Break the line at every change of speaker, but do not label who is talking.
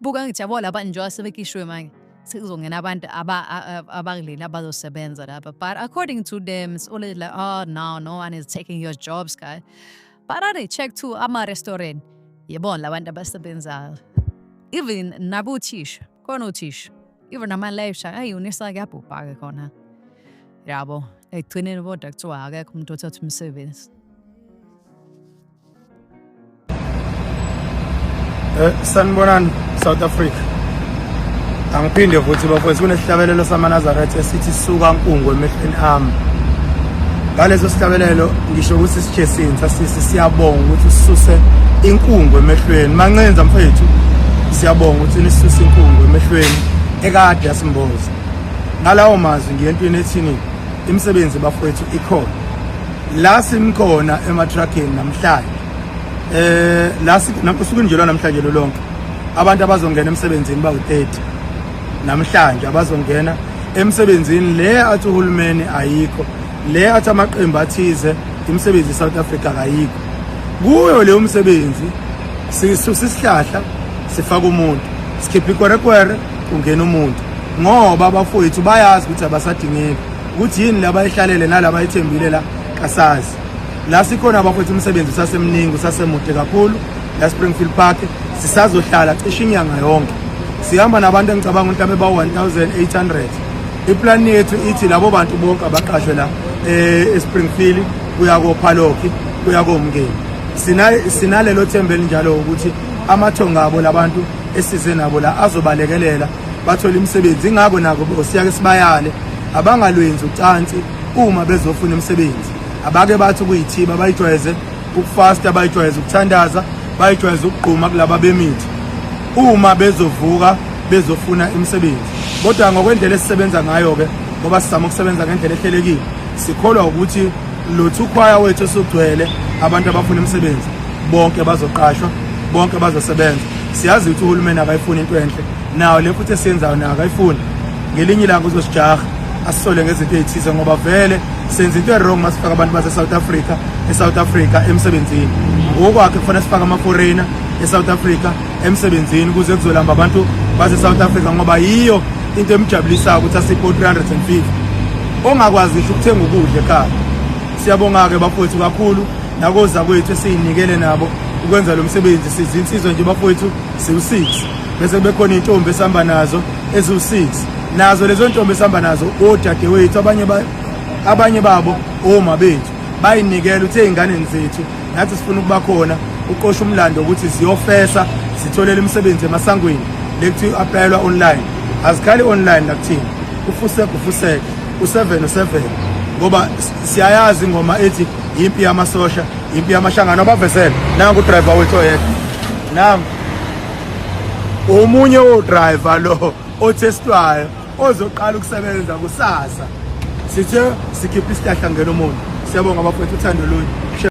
buka ngijabo laba njengoba sebekishiwe manje sekuzongena abantu abakuleli abazosebenza lapha but according to them it's always like oh no no one is taking your jobs guy but ade check to ama-restaurant yebona labantu abasebenzayo even nabothisha khona othisha even nama-life ayi unisa kuyabhubha-ke khona yabo ekugcineni kodwa kuthiwa akekho umuntu othatha umsebenzi
Eh, sanibonani South Africa angiphinde futhi bafowethu kunesihlabelelo samanazaretha esithi suka nkungu emehlweni ami ngaleso sihlabelelo ngisho ukuthi sijesini sasisi siyabonga ukuthi ususe inkungu emehlweni mancenza mfethu siyabonga ukuthi nisuse inkungu emehlweni ekade yasimboza ngalawo mazwi ngiyentweni ethini imisebenzi bafowethu ikhona la simkhona ematrackini namhlanje eh la usuku nje namhlanje lo lonke abantu abazongena emsebenzini bawu-30 namhlanje abazongena emsebenzini le athi uhulumeni ayikho le athi amaqembu athize imisebenzi e-south africa kayikho kuyo leyo msebenzi sisusa isihlahla sifaka umuntu sikhipha ikwerekwere kungena umuntu ngoba abafowethu bayazi ukuthi abasadingeki ukuthi yini laba ihlalele nalaba ithembile la kasazi la sikhona bafethu umsebenzi usasemningi usasemude kakhulu la Springfield Park sisazohlala cishe inyanga yonke sihamba nabantu engicabanga ukuthi abeba 1800 iplan yethu ithi labo bantu bonke abaqashwe la eh, eSpringfield kuya koPhaloki kuya komngeni sina sinalelo thembe elinjalo ukuthi amathonga abo labantu esize nabo la azobalekelela bathola imisebenzi ingakho nako bosiyake sibayale abangalwenzi ucansi uma bezofuna imisebenzi abake bathi kuyithiba bayijwayeze ukufasta bayijwayeze ukuthandaza bayijwayeze ukugquma kulaba bemithi uma bezovuka bezofuna imisebenzi kodwa ngokwendlela esisebenza ngayo-ke ngoba sizama ukusebenza ngendlela ehlelekile sikholwa ukuthi lothu ukhwaya wethu esugcwele abantu abafuna imisebenzi bonke bazoqashwa bonke bazosebenza siyazi ukuthi uhulumeni akayifuni into enhle nawo le futhi esiyenzayo nayo akayifuni ngelinye ilanga uzosijaha asisole ngezinto ey'thize ngoba vele senza into erong uma sifaka abantu base-south africa e-south africa emsebenzini ngokwakhe kufanele sifake ama-foreigner e-south africa emsebenzini ukuze kuzolamba abantu base South Africa ngoba yiyo into emjabulisayo ukuthi asipho 350 ongakwazi ngisho ukuthenga ukudla ekhaya siyabonga ke bafowethu kakhulu nakoza kwethu esiyinikele nabo ukwenza lo msebenzi siza insizwa nje bafowethu siwu-6 bese bekhona iy'ntombi esihamba nazo eziwu-6 nazo lezo ntombi esihamba nazo odadewethu abanye abanye babo oma bethu bayinikela uthe ey'nganeni zethu nathi sifuna ukuba khona uqosha umlando ukuthi siyofesa sitholele imisebenzi emasangweni lekuthiwa i-aplayelwa online azikhali online nakuthina ufuseke ufuseke u-seven u-seven ngoba siyayazi ingoma ethi yimpi yamasosha yimpi yamashangano abavesele nangu udrayiva wethu oyedwa nangu omunye wodrayiva lo othestwayo ozoqala ukusebenza kusasa sithe sikhiphe isihlahla ngena umuntu siyabonga bafowethu uthando lunye